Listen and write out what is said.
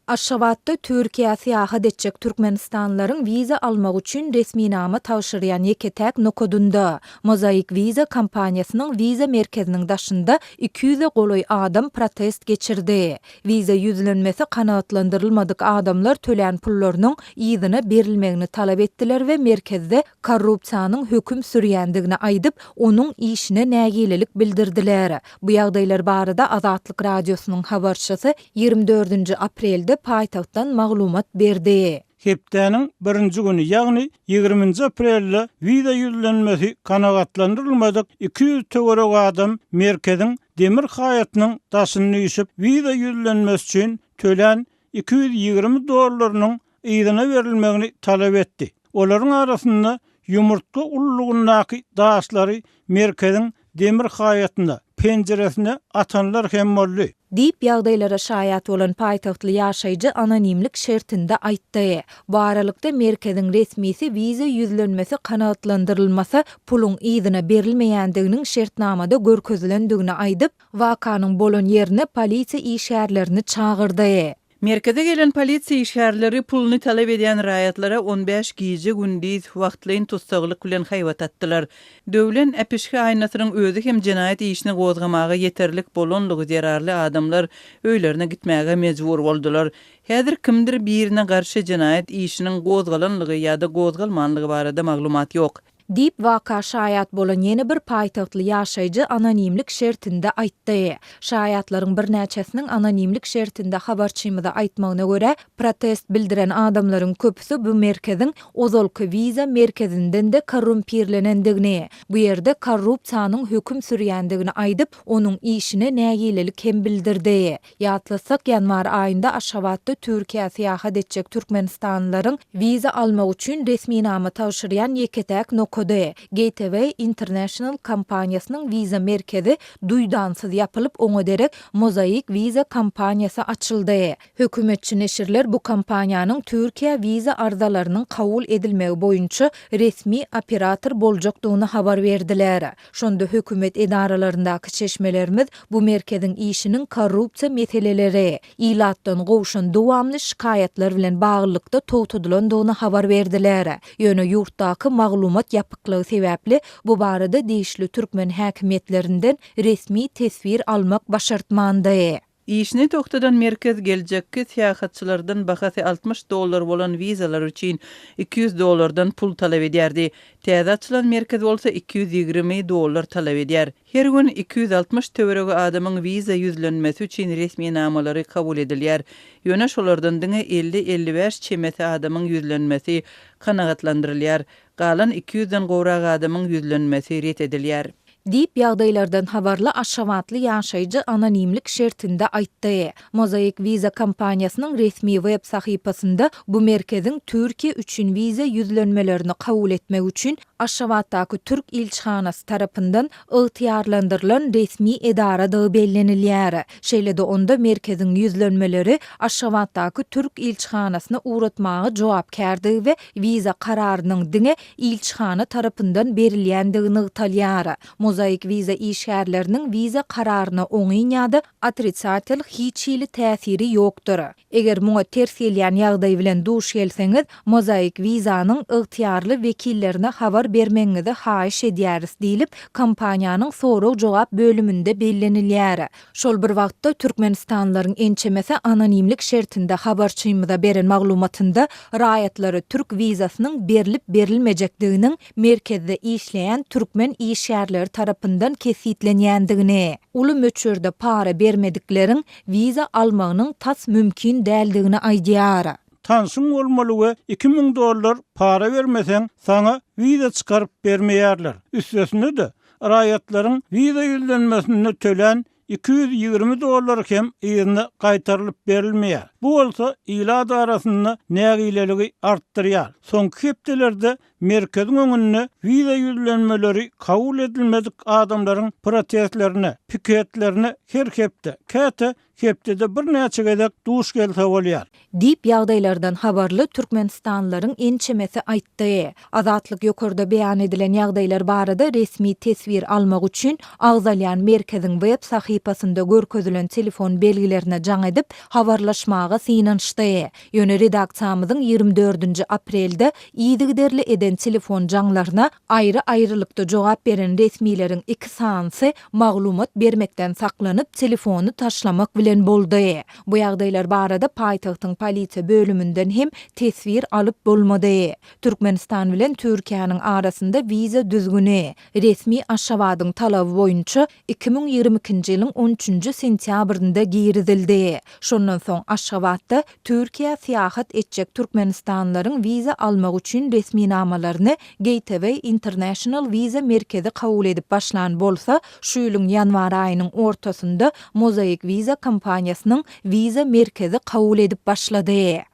Aşgabatda Türkiýä syýahat etjek türkmenistanlylaryň wiza almak üçin resminama tabşyrýan ýeke-täk nokadynda, Mozaik Visa kompaniýasynyň wiza merkeziniň daşynda iki ýüze golaý adam protest geçirdi. Wiza ýüzlenmesi kanagatlandyrylmadyk adamlar tölän pullarynyň yzyna berilmegini talap etdiler we merkezde korrupsiýanyň höküm sürýändigini aýdyp, onuň işine nägilelik bildirdiler. Bu ýagdaýlar barada Azatlyk Radiosynyň habarçysy Ýigrimi dördünji aprelde paýtagtdan maglumat berdi. Hepdäniň birinji güni, ýagny ýigriminji aprelde wiza ýüzlenmesi kanagatlandyrylmadyk iki ýüz töweregi adam merkeziň demir haýatynyň daşyny üýşüp, wiza ýüzlenmesi üçin tölän iki ýüz ýigrimi dollarynyň yzyna berilmegini talap etdi. Olaryň arasynda ýumurtga ululygyndaky daşlary merkeziň demir haýatyna, penjiresine atanlar hem boldy. Diýip, ýagdaýlara şaýat bolan paýtagtly ýaşaýjy anonimlik şertinde aýtdy. Bu aralykda, merkeziň resmisi wiza ýüzlenmesi kanagatlandyrylmasa, puluň yzyna berilmeýändiginiň şertnamada görkezilendigini aýdyp, wakanyň bolan ýerine polisiýa işgärlerini çagyrdy. Merkeze gelen polisiýa işgärleri puluny talap edýän raýatlara on bäş gije-gündiz wagtlaýyn tussaglyk bilen haýbat atdylar. Döwlen äpişge aýnasynyň özi hem jenaýat işini gozgamaga ýeterlik bolanlygy zerarly adamlar öýlerine gitmäge mejbur boldular. Häzir kimdir birine garşy jenaýat işiniň gozgalanlygy ýa-da gozgalmanlygy barada maglumat ýok. Diýip, waka şaýat bolan ýene bir paýtagtly ýaşaýjy anonimlik şertinde aýtdy. Şaýatlaryň birnäçesiniň anonimlik şertinde habarçymyza aýtmagyna görä, protest bildiren adamlaryň köpüsi bu merkeziň ozalky wiza merkezinden-de korrumpirlenendigini, bu ýerde korrupsiýanyň höküm sürýändigini aýdyp, onuň işine nägilelik hem bildirdi. Ýatlatsak, ýanwar aýynda Aşgabatda Türkiýä syýahat etjek türkmenistanlylaryň wiza almak üçin resminama tabşyrýan ýeke-täk nokady, Gateway International kompaniýasynyň wiza merkezi duýdansyz ýapylyp, oňa derek Mosaic Visa kompaniýasy açyldy. Hökümetçi neşirler bu kompaniýanyň Türkiýä wiza arzalarynyň kabul edilmegi boýunça resmi operator boljakdygyny habar berdiler. Şonda hökümet edaralaryndaky çeşmelerimiz bu merkeziň işiniň korrupsiýa meseleleri, ilatdan gowşan dowamly şikaýatlar bilen baglylykda togtadylandygyny habar berdiler. Ýöne ýurtdaky maglumat ýapyklygy sebäpli bu barada degişli türkmen häkimiýetlerinden resmi teswir almak başartmandy. Işini togtadan merkez geljekki syýahatçylardan bahasy altmyş dollar bolan wizalar üçin iki ýüz dollardan pul talap edýärdi. Täze açylan merkez bolsa iki ýüz ýigrimi dollar talap edýär. Her gün iki ýüz altmyş töweregi adamyň wiza ýüzlenmesi üçin resminamalary kabul edilýär. Ýöne şolardan diňe elli-elli bäş çemesi adamyň ýüzlenmesi kanagatlandyrylýar. Galan iki ýüzden gowrak adamyň ýüzlenmesi ret edilýär. Diýip, ýagdaýlardan habarly aşgabatly ýaşaýjy anonimlik şertinde aýtdy. Mosaic Visa kompaniýasynyň resmi web sahypasynda bu merkeziň Türkiýe üçin wiza ýüzlenmelerini kabul etmek üçin Aşgabatdaky türk ilçihanasy tarapyndan ygtyýarlandyrylan resmi edaradygy bellenilýär. Şeýle-de onda merkeziň ýüzlenmeleri Aşgabatdaky türk ilçihanasyna ugratmaga jogapkärdigi we wiza kararynyň diňe ilçihana tarapyndan berilýändigi nygtalýar. Mozaik wiza işgärleriniň wiza kararyna oňyn ýa-da otrisatel hiç hili täsiri ýokdur. Eger muňa ters gelýän ýagdaý bilen duş gelseňiz, Mozaik Visa-nyň ygtyýarly wekillerine habar bermegiňizi haýyş edýäris diýlip, kompaniýanyň sorag-jogap bölüminde bellenilýär. Şol bir wagtda, türkmenistanlylaryň ençemesi anonimlik şertinde habarçymyza beren maglumatynda raýatlara türk wizasynyň berlip-berilmejekdiginiň merkezde işleýän türkmen işgärleri tarapyndan kesgitlenýändigini, uly möçberde para bermedikleriň wiza almagynyň tas mümkin däldigini aýdýar. Tanşyň bolmaly we iki müň dollar para bermeseň, saňa wiza çykaryp bermeýärler. Üstesine-de, Raýatlaryň wiza ýüzlenmesinde tölän iki ýüz ýigrimi dollar hem yzyna gaýtarylyp berilmeýär. Bu bolsa ilat arasynda nägileligi artdyrýar. Soňky hepdelerde merkeziň öňünde wiza ýüzlenmeleri kabul edilmedik adamlaryň protestlerine, piketlerine her hepde, käte Hepdede birnäçe gezek duş gelse bolýar. Diýip, ýagdaýlardan habarly türkmenistanlylaryň ençemesi aýtdy. Azatlyk ýokarda beýan edilen ýagdaýlar barada resmi teswir almak üçin agzalýan merkeziň web sahypasynda görkezilen telefon belgilerine jaň edip, habarlaşmaga synanyşdy. Ýöne redaksiýamyzyň ýigrimi dördünji aprelde yzygiderli eden telefon jaňlaryna aýry-aýrylykda jogap beren resmileriň iki sanysy maglumat bermekden saklanyp, telefony taşlamak bilen boldy. Bu ýagdaýlar barada paýtagtyň polisiýa bölüminden hem teswir alyp bolmady. Türkmenistan bilen Türkiýäniň arasynda wiza düzgüni, resmi Aşgabadyň talaby boýunça iki müň ýigrimi ikinji ýylyň on üçünji sentýabrynda girizildi. Şondan soň Aşgabatda Türkiýä syýahat etjek türkmenistanlylaryň wiza almak üçin resminamalaryny Gateway International wiza merkezi kabul edip başlan bolsa, şu ýylyň ýanwar aýynyň ortasynda Mosaic Visa kompaniýasynyň wiza merkezi kabul edip başlady.